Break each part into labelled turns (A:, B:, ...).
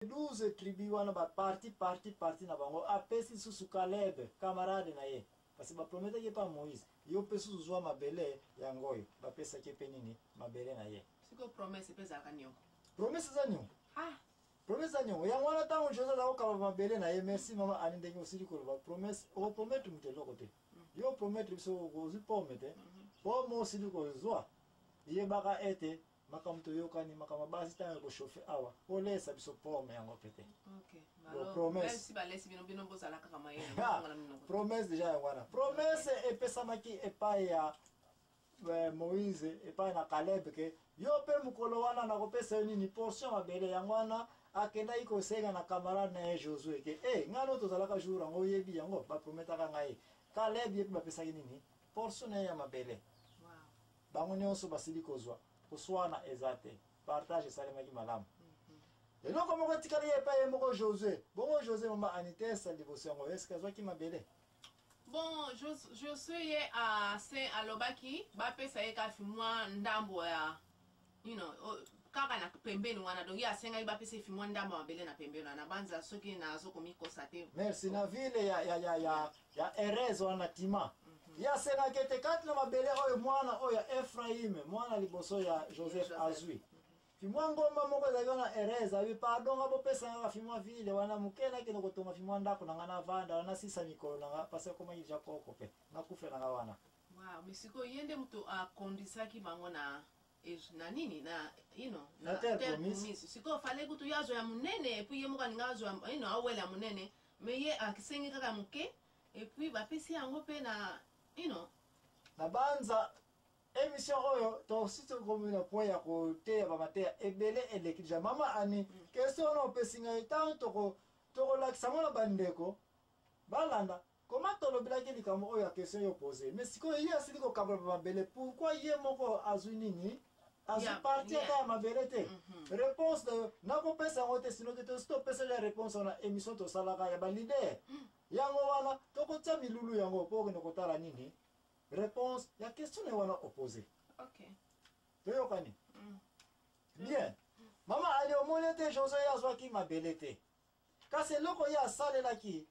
A: 12 tribus wana ba parti parti parti na bango apesi lisusu Caleb camarade na ye kasi baprometaki epa Moïse yo mpe susu zwa mabele yango oyo bapesaki mpe nini mabele na ye sikoyo promese mpe ezalaka
B: niongo promese eza niongo
A: ah. promese eza niongo yango wana ntango jose aza kokaba mabele na ye merci mama ani ndenge osili koloba promese okoprometre moto eloko te mm. yo oprometre biso ozwi pome te mm-hmm. pome osili kozwa yebaka ete makambo toyokani makambo ya basi ntango ya kochauffe awa olesa biso pome yango mpe te
B: promesse deja
A: yango wana promesse epesamaki epai ya eh, moïse epai na kaleb ke yo mpe mokolo wana nakopesa yo nini portion mabele yango wana akendaki kosenga na camarade na ye josue ke e eh, ngai no tozalaka jour yango oyebi yango baprometaka ngai kaleb ye mpe bapesaki nini portion na ye ya mabele bango nyonso basili kozwa koswana eza te partage esalemaki malamu eloko moko etikali ye epai ye moko josue bongo josue mama anitesa liboso yango eske azwaki mabele bon
B: josue ye ase alobaki bapesa ye kasi mwa ndambo ya you know, oh, kaka na pembeni wana donc ye asengaki bapesa efi mwa ndambo mabele na pembeni wana banza soki nazo komikosa te merci na ville
A: ya, ya, ya, ya, ya erez wana tima mhm. ye asengaki ete kati na mabele oyo mwana oyo ya efraime mwana liboso ya joseph azwi fimwa ngomba moko ezalaki wana erez abi pardon nga bopesa nga fimwa ville wana moke nakende kotonga fimwa ndako na nga navanda wana nasisa mikolo na nga mpasi akomaki deja koko mpe nakufe na nga wana Wow, mais sikoyo ye
B: nde moto akondisaki bango na ej- na nini na ino Na terre terre
A: promise. promise. sikoyo fale kutu ye
B: azwa ya monene epuis ye moko alinga azwa ino awela monene mais ye akisengi kaka moke epuis bapesi yango mpe na ino
A: nabanza emission oyo tosi tokomi na point ya koteya bamateya ebele eleki deja mama ani question wana opesi ngai ntango toko- tokolakisa yango na bandeko balanda Comment tolobelaki likambo oyo ya question yo pose mais sikoyo ye asili kokabola ba mabele pourquoi ye moko azwi nini azwi yeah, parti yeah. ata ya mabele te mm -hmm. réponse nayo nakopesa yango te sinoki tosi topesa ya réponse wana émission tosalaka ya balider mm. yango wana tokotya milulu yango mpo okende kotala nini réponse ya question naye wana opose okay.
B: toyokani
A: mm. bien mm. mama ali omoni te joso ye azwaki mabele te kasi eloko ye asalelaki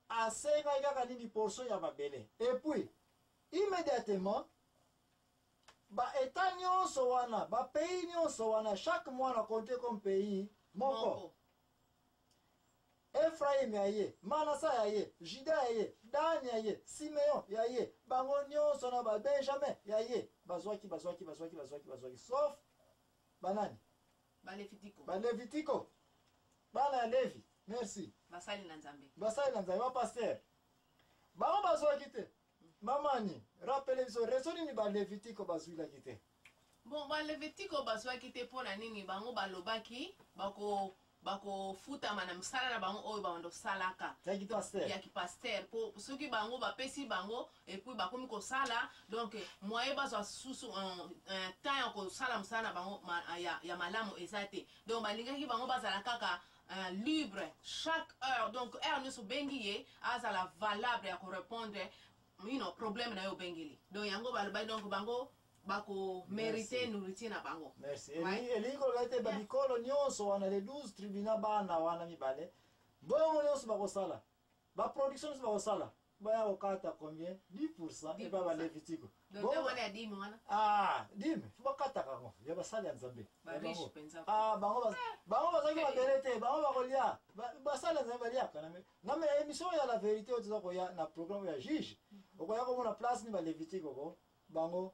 A: asengaki kaka nini portion ya mabele et puis immédiatement ba état nyonso wana ba pays nyonso wana chaque mois na compte comme pays moko efraim ya ye manasa ya ye juda ya ye dan ya ye simeon ya ye bango nyonso na babenjamin ya ye bazwaki bazwaki bazwaki bazwaki bazwaki sauf banani Balevitiko. Balevitiko. Bana ya Levi. Merci. Basali na Nzambe.
B: Basali na Nzambe. Ba pasteur.
A: Bango bazwaki te. Mamani, rappele biso rezo nini Balevitiko bazwilaki te. Bon,
B: Balevitiko bazwaki te mpo na nini bango balobaki bako bakofutama na misala na bango oyo bando salaka ya kipastere mpo soki bango bapesi bango et puis bakomi kosala donc moyen bazwa susu temps ya kosala mosala na bango ya, ya malamu eza te donc balingaki bango bazala kaka Uh, libre chaque heure donc heure nyonso obengi ye azala valable ya korépondre you know, problème na yo obengeli donc yango balobaki donc bango bakomerite nourriture na bango merci elingi
A: koloba ete bamikolo nyonso wana le 12 tribunal bana wana mibale bongo nyonso bakosala ba production nyonso bakosala baya kokata combien 10 pourcent epa balevitiko
B: dime fo
A: bakataka yango ya basali ya nzambe bango bazalaki babele te bango bakolia basali ya nzambe baliaka na me émission ya la vérité oyo toza koya na programme ya juge okoya komona place ni balevitiko ko bango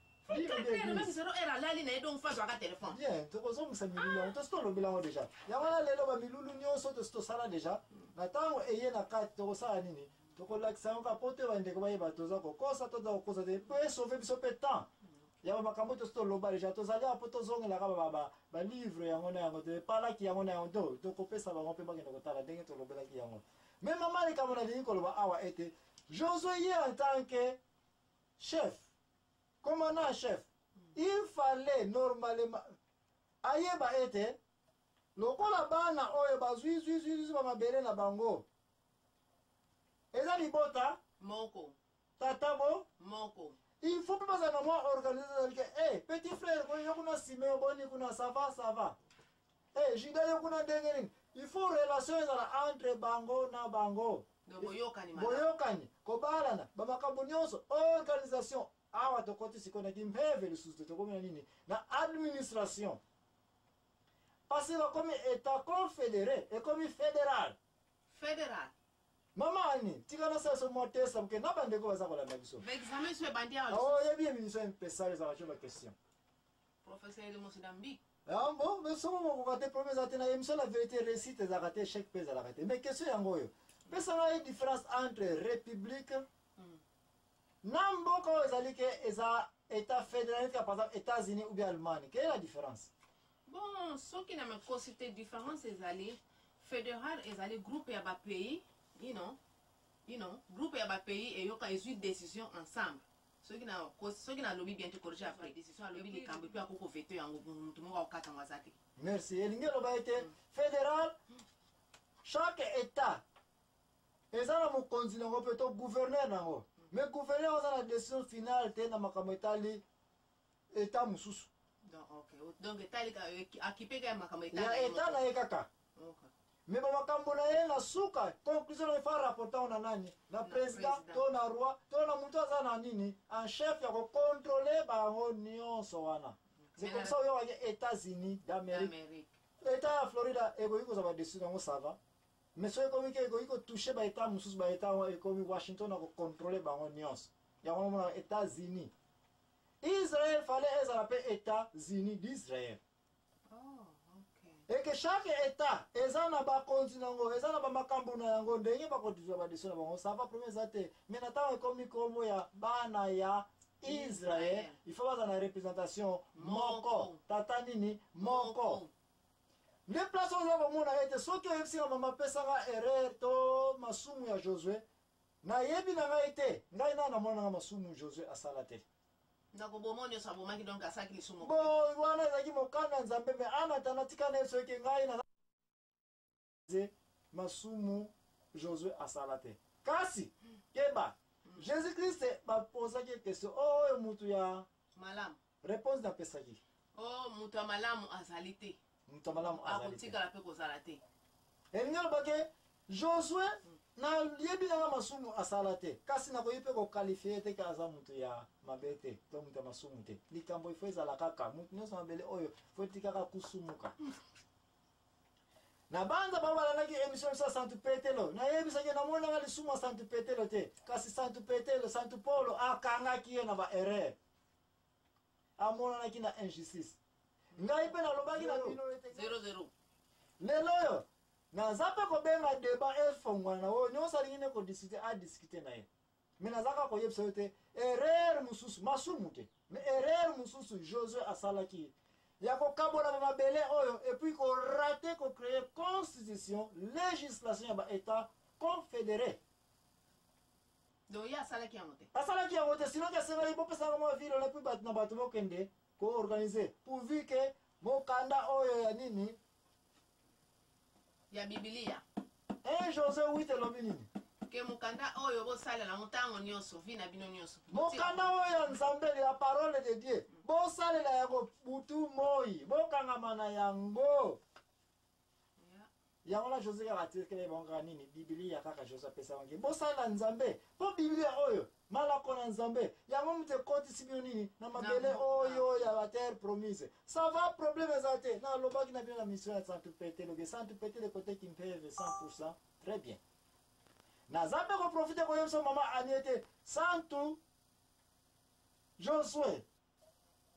B: tokozongisa milulu
A: yango tosi tolobela yango deja yango wana lelo bamilulu nyonso tosi tosala deja na ntango eye na kati tokosala nini tokolakisa yango kaka mpo te bandeko bayeba toza kokosa to toza kokosa te mpo esauve biso mpe temps ya bamakambo tosi toloba deja tozali apo tozongelaka balivre yango na yango te epalaki yango na yango to tokopesa bango mpe bakende kotala ndenge tolobelaki yango me mama likambo nalingi koloba awa ete josue ye en tant que chef commandant chef il fallait normalement ayeba ete lokola bana oyo bazwi zwizwizwi bamabele na bango eza libota moko
B: tata bo
A: moko
B: il faut mpe bazala
A: na mwa organise ezali ke e eh, petit frère koyo yo kuna nsima yo boni kuna sava sava Eh, juda yo kuna ndenge nini il faut relation ezala entre bango na bango Donc, boyokani malamu. boyokani kobalana bamakambo nyonso organisation awa tokoti sikoyo na kimpeve lisusu te tokomi na nini na administration parce que bakomi etat confédéré ekomi fédéral Federal. mama ani tika nasalisa mwa testa moke na bandeko baza kolanda biso Ba examen sur
B: bandia. oyebi emission
A: mpesala ezalaka tyo baquestion Professeur
B: de Mozambique. Ah bon, mais somo
A: mokoka te problème ezala te na émission la vérité réussite ezalaka te échec mpe ezalaka te mais question yango oyo pesa ngai différence entre république hmm. na mboka oyo ezali ke eza état fédéral par exemple états-unis ou bien allemagne quelle est la différence bon
B: soki na makosi te différence ezali fédéral ezali groupe ya bapays you know, you know, groupe ya bapays eyoka ezwi décision ensemble soki na kosi soki na lobi bien te corriger après decision alobi likambo puis akoko veto yango mutu moko akokata yango aza te merci elingi eloba
A: ete mm. fédéral chaque état eza na mokonzi na yango mpe to gouverneur na yango mais gouverneur aza na décision finale te na makambo etali eta mosusu donc
B: etalika akipeka ya makambo ya eta na ye kaka
A: me bamakambo na ye na suka conclusion na efa rapportant na nani na président to na roi to na moto aza na nini en chef ya kocontrole bango nyonso wana c'est comme ça oyokaki états-unis d'amérique eta ya florida ekoki kozwa badeside yango sava mais soki ekomi ke ekoki kotouche baeta mosusu baeta ekomi washington akocontrole bango nyonso yango omona états-unis Israël fallait ezala mpe Etats-Unis d'Israël. Oh, et que chaque état eza na bakonzi na yango eza na bamakambo na yango ndenge bakodizwa badesio na bango ça va problème eza te mais na ntango ekomi nkombo ya bana ya israel il faut baza na représentation moko tata nini moko nde place oza komona ete soki oyebisi na mama apesaka erreur to masumu ya josue Na yebi na ngai te. Ngai nanu na monaka masumu Josue asala te. Na kobomo nioso
B: abomaki donc asalaki lisumu moko te. Bon wana ezalaki
A: mokano ya Nzambe mais en attendant tika na ye soki ngai na masumu Josue asala te. Kasi keba. Jesus Christ ba posaki ye question oyo mutu ya malamu.
B: Reponse na pesaki.
A: Oh, moto ya
B: malamu azali te. Moto ya malamu azali te.
A: Akotikala pe kozala te.
B: Elingi aloba
A: ke Josue hmm. na yebi na masumu asala te. Kasi na koyi pe ko qualifier te ka aza moto ya mabe te. To moto ya masumu te. Likambo ifo ezala kaka moto nyonso mabele oyo fo etikaka kusumuka. na banza bango balandaki émission biso ya santu petelo nayebisaki namonaka lisumu ya santu petelo te kasi santu petelo santu polo akangaki ye na baerreur amonanaki na injustice ngai mpe nalobaki na bino
B: lelo
A: oyo naza mpe kobenga deba efongwana na oyo nyonso alingi nde kodiskute adiskute na ye me naza kaka koyebisa yo te erreur mosusu masumu te me erreur mosusu josue asalaki ya kokabola ba mabele oyo epuis korate kocreye constitution législation ya baétat confédéré
B: donc ye asalaki yango te asalaki yango te sinon
A: kesengeli bopesaka mwa vile na puis bato na bato bokende koorganize pourvu ke mokanda oyo ya nini
B: ya bibilia e eh, jose
A: wit elobi nini ke mokanda
B: oyo bosalela yango ntango nyonso vi na bino nyonso mokanda oyo ya
A: nzambe ya parole de dieu bosalela yango butu moi bokangama na yango yango na jose kaka atirikele bango kaka nini bibilia kaka jose apesa bango bosalela nzambe mpo bibilia oyo malako na nzambe yango moto ekotisi bino nini na mabele oyo ya baterre promise ça va problème eza te nalobaki na bino na mission ya santu pete lobi santu pete lekoteki mpeve 100 très bien naza mpe koprofite koyebisa mama anie te santu josue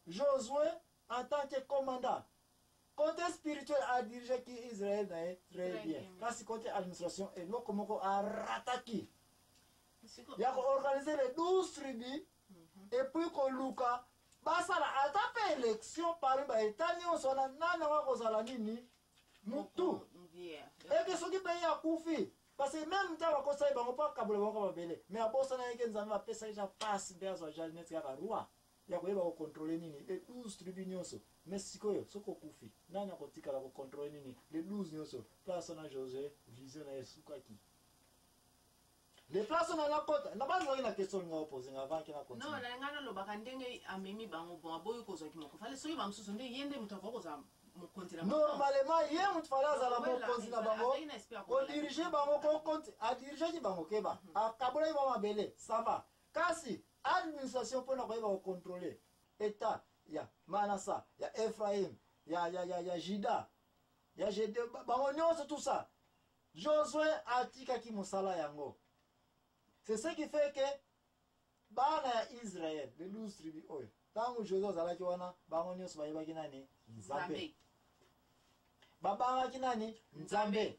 A: Josue en tant que commandant cote spirituel a dirige ki Israël na ye très bien kasi cote administration eloko moko a rataki ya ko organiser les 12 tribus mhm. et puis koluka basala ata mpe élection parmi ba état nyonso wana nani yango akozala nini mutu eke soki mpe ye akufi parce que meme ntango akosaki bango mpo akabola bango mabele mais abosanaki ke nzambe apesaki ja pasi mpe azwa ja neti kaka roi ya koyeba kokontrole nini le 12 tribu nyonso mais sikoyo soki okufi nani akotikala kokontrole nini le 12 nyonso place wana josue vision na ye esukaki le place on a kota na bani waki na question linga opose nga avant kina continue non na nga na lobaka ndenge
B: amemi bango bon aboyi ko zaki moko fale soki ba mususu nde yende mutu ko za mokonzi na normalement ye
A: mutu fale azala mokonzi na bango ko diriger bango ko konti a diriger ki bango keba mhm. akabola ba mabele ça va kasi administration pona ko yeba ko contrôler état ya Manasa ya Ephraim ya ya ya ya Juda ya Jede bango nyoso tout ça Josue atikaki mosala yango. C'est ce qui fait que bana ya Israël, les 12 tribus oyo, ntango Josue azalaki wana, bango nyonso bayebaki nani? Nzambe. Babangaki nani? Nzambe.